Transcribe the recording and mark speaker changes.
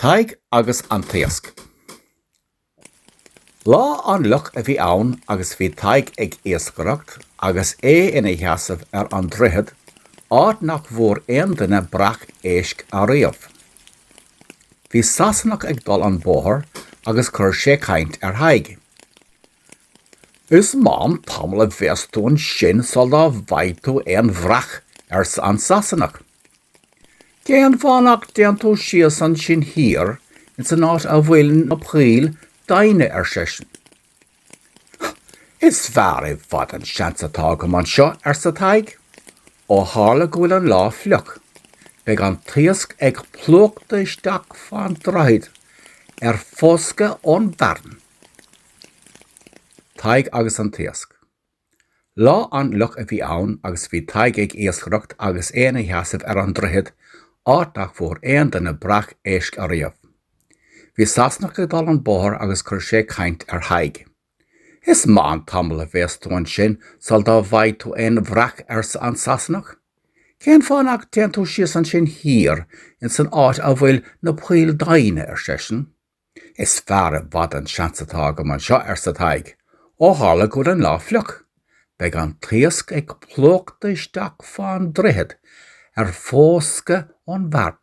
Speaker 1: Tadhg agus an tIasc. Lá an-fhliuch a bhí ann agus bhí Tadhg ag iascaireacht agus é ina sheasamh ar an droichead, áit nach bhfuair aon duine breac éisc ariamh. Bhí Sasanach ag dul an bóthar agus chuir sé caint ar Thadhg. Is maith an tamall a bheas tú ansin sul dá bhfaighidh tú aon bhreac, arsa an Sasanach. Cén fáth nach dtéann tú síos ansin thíos ins an áit a bhfuil na poill doimhne, ar seisean. Is fearr i bhfad an seans atá agam anseo, arsa Tadhg. Ó tharla go bhfuil an lá fliuch, beidh an t-iasc ag plúchadh isteach fán droichead ar foscadh ón bhfearthainn. Tadhg agus an t-iasc. Lá an-fhliuch a bhí ann agus bhí Tadhg ag iascaireacht agus é ina sheasamh ar an droichead, áit nach bhfuair aon duine breac éisc ariamh. Bhí Sasanach ag dul an bóthar agus chuir sé caint ar Thadhg. Is maith an tamall a bheas tú ansin sul dá bhfaighidh tú aon bhreac arsa an Sasanach. Cén fáth nach dtéann tú síos ansin thíos insan áit a bhfuil na poill doimhne, ar seisean. Is fearr i bhfad an seans atá agam anseo, arsa Tadhg. Ó tharla go bhfuil an lá fliuch, beidh an t-iasc ag plúchadh isteach fán droichead ar foscadh ón bhfearthainn.